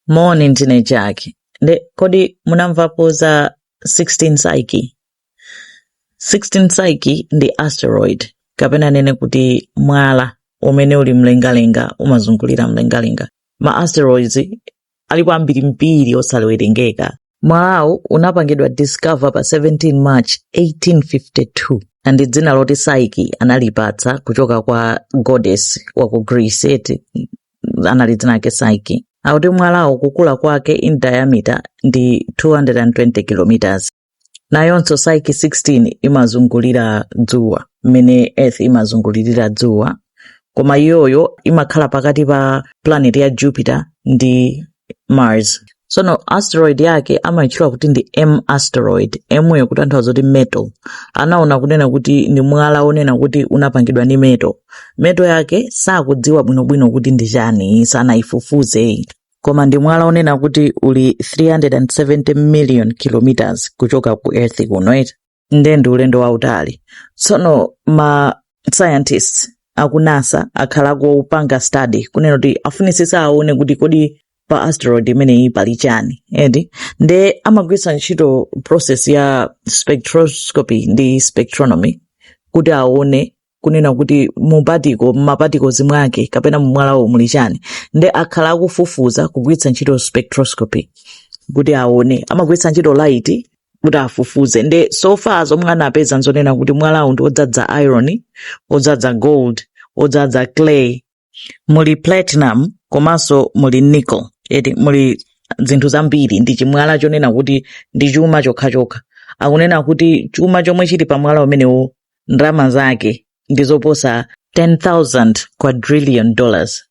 Moni ndine Jack. Nde kodi munamvapo za 16 Psyche? 16 Psyche ndi asteroid kapena nene kuti mwala umene uli mlengalenga umazungulira mlengalenga. Ma asteroids alipo ambirimbiri osalewerengeka. Mwalawu unapangidwa discover pa 17 March 1852 and dzina loti Psyche analipatsa kuchoka kwa goddess wa ku Greece eti anali dzina lake Psyche. Akuti mwalawo kukula kwake in diameter ndi 220 kilometers. Nayonso Psyche 16 imazungulira dzuwa mmene Earth imazungulirira dzuwa koma iyoyo imakhala pakati pa planet ya jupiter ndi mars sono asteroid yake amaitchula kuti ndi m asteroid m yo kutanthauza kuti metal anaona kunena kuti ndi mwala onena kuti unapangidwa ndi metal metal yake sakudziwa bwinobwino kuti ndi chani sanayifufuze koma ndi mwala onena kuti uli 370 million kilometers kuchoka ku earth kuno eti nde ndi ulendo wautali tsono ma scientists aku NASA akhala akupanga study kunena kuti afunitsitsa aone kuti kodi pa asteroid imeneyi pali chani eti nde amagwiritsa ntchito process ya spectroscopy ndi spectronomy kuti aone kunena kuti mu particle mumaparticles mwake kapena mumwalawo muli chani nde akhala akufufuza kugwiritsa ntchito spectroscopy kuti aone amagwiritsa ntchito light kuti afufuze nde so far zomwe anapeza nzonena kuti mwalawu ndi odzadza iron odzadza gold odzadza clay muli platinum komanso muli nickel eti muli zinthu zambiri ndi chimwala chonena kuti ndi chuma chokhachokha akunena kuti chuma chomwe chili pa mwala umenewo ndalama zake ndi zoposa 10,000 quadrillion dollars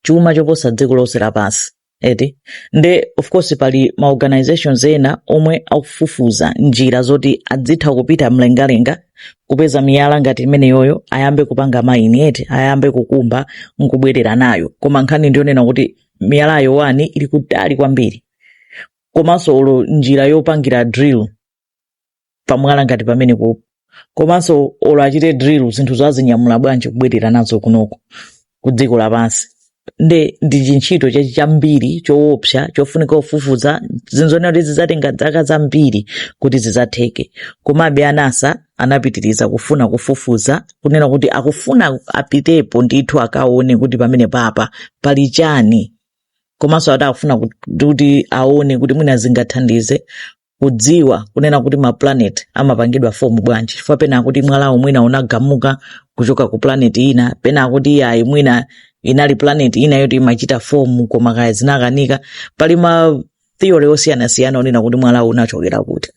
chuma choposa dziko lonse lapansi eti nde of course pali ma organizations ena omwe akufufuza njira zoti adzitha kupita mlengalenga kupeza miyala ngati imeneyoyo ayambe kupanga maini eti ayambe kukumba nkubwerera nayo koma nkhani ndiyonena kuti miyalayo one ili kutali kwambiri komanso olo njira yopangira drill pamwala ngati pamenepo komanso olo achite drill zinthu adzazinyamula bwanji kubwerera nazo kunoko ku dziko lapansi nde ndi chintchito chachi chambiri choopsa chofunika kufufuza ndi zonena kuti zidzatenga zaka zambiri kuti zidzatheke komabe a NASA anapitiriza kufuna kufufuza kunena kuti akufuna apitepo ndithu akaone kuti pamene papa pali chani komanso ati akufuna kuti aone kuti mwina zingathandize kudziwa kunena kuti ma planet amapangidwa fomu bwanji chifukwa pena akuti mwalawo mwina unagamuka kuchoka ku planet ina pena akuti iyayi mwina inali planet ina yoti imachita fomu koma kaya zinakanika pali ma theory osiyanasiyana onena kuti mwalawo unachokera kuti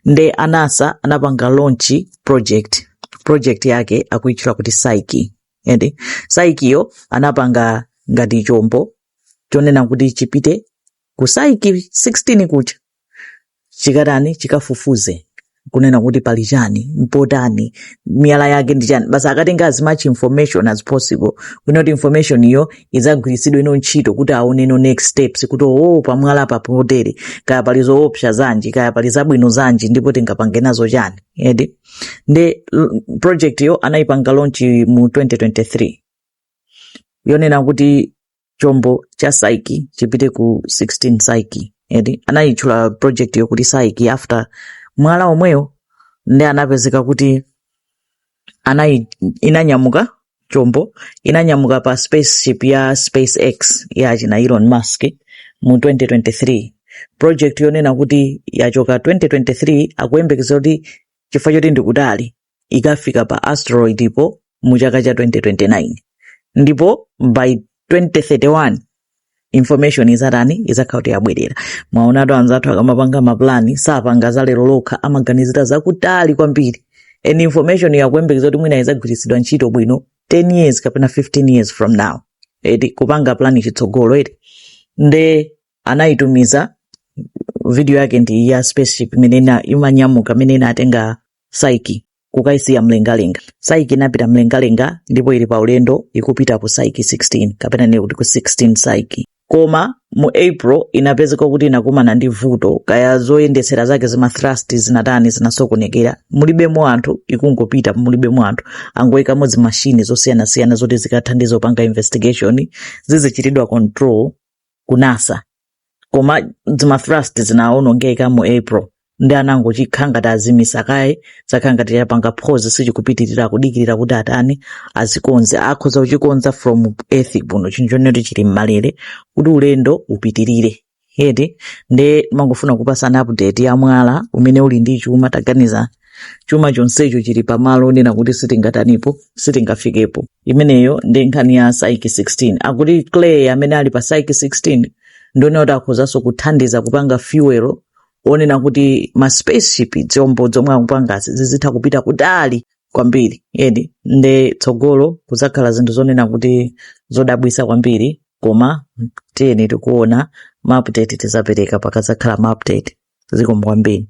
nde a NASA anapanga launch project project yake akuitchula kuti psyche ende psyche yo anapanga ngati chombo chonena kuti chipite ku psyche 16 kucha chikatani chikafufuze kunena kuti pali chani mpotani miyala yake ndi chani basi akatenga as much information as possible kunena kuti information iyo idzagwiritsidwe ino ntchito kuti aone no next steps kuti oo pamwalapa potere kaya pali zoopsa zanji kaya pali zabwino zanji ndipo tingapange nazo chani eti nde project yo anayipanga launch mu 2023 yonena kuti chombo cha psyche chipite ku 16 psyche eti anayitchula project yo kuti psyche after mwala omweyo nde anapezeka kuti inanyamuka chombo inanyamuka pa spaceship ya spacex ya achina elon musk mu 2023 project yonena kuti yachoka 2023 akuyembekeza kuti chifukwa choti ndikutali ikafika pa asteroid po mu chaka cha 2029 ndipo by 2031 information izatani izakhala kuti yabwerera mwaonatu anzathu akamapanga mapulani sapanga za lero lokha amaganizira zakutali kwambiri and information yo akuyembekeza kuti mwina izagwiritsidwa ntchito bwino 10 years kapena 15 years from now eti kupanga plani chitsogolo eti nde anaitumiza video yake ndi ya spaceship imene ina- imanyamuka imene inatenga psyche kukaisiya mlengalenga psyche inapita mlengalenga ndipo ili pa ulendo ikupita ku psyche 16 kapena nene kuti ku 16 psyche koma mu april inapezeka kuti inakumana ndi vuto kaya zoyendetsera zake zima thrust zinatani zinasokonekera mulibemo anthu ikungopita mulibemo anthu angoikamo zimashini zosiyanasiyana zoti zikathandize kupanga investigation zizichitidwa control ku NASA koma zima thrust zinaonongeka mu april nde anangokhala ngati azimitsa kaye chakhala ngati chapanga pause sichikupitirira kudikirira kuti atani azikonze akhoza kuchikonza from earth kuno chinthu choti chili mmalere kuti ulendo upitirire eti nde ndimangofuna kupasana update ya mwala umene uli ndi chuma taganiza chuma chonsecho chili pamalo onena kuti sitingatanipo sitingafikepo imeneyo ndi nkhani ya psyche 16 akuti clay amene ali pa psyche 16 ndi onena kuti akhozanso kuthandiza kupanga fuel onena kuti ma spaceship zombo zomwe akupangazi zizitha kupita kutali kwambiri edi nde tsogolo kuzakhala zinthu zonena kuti zodabwisa kwambiri koma tiyeni tikuona maupdate tizapereka pakazakhala maupdate zikomo kwambiri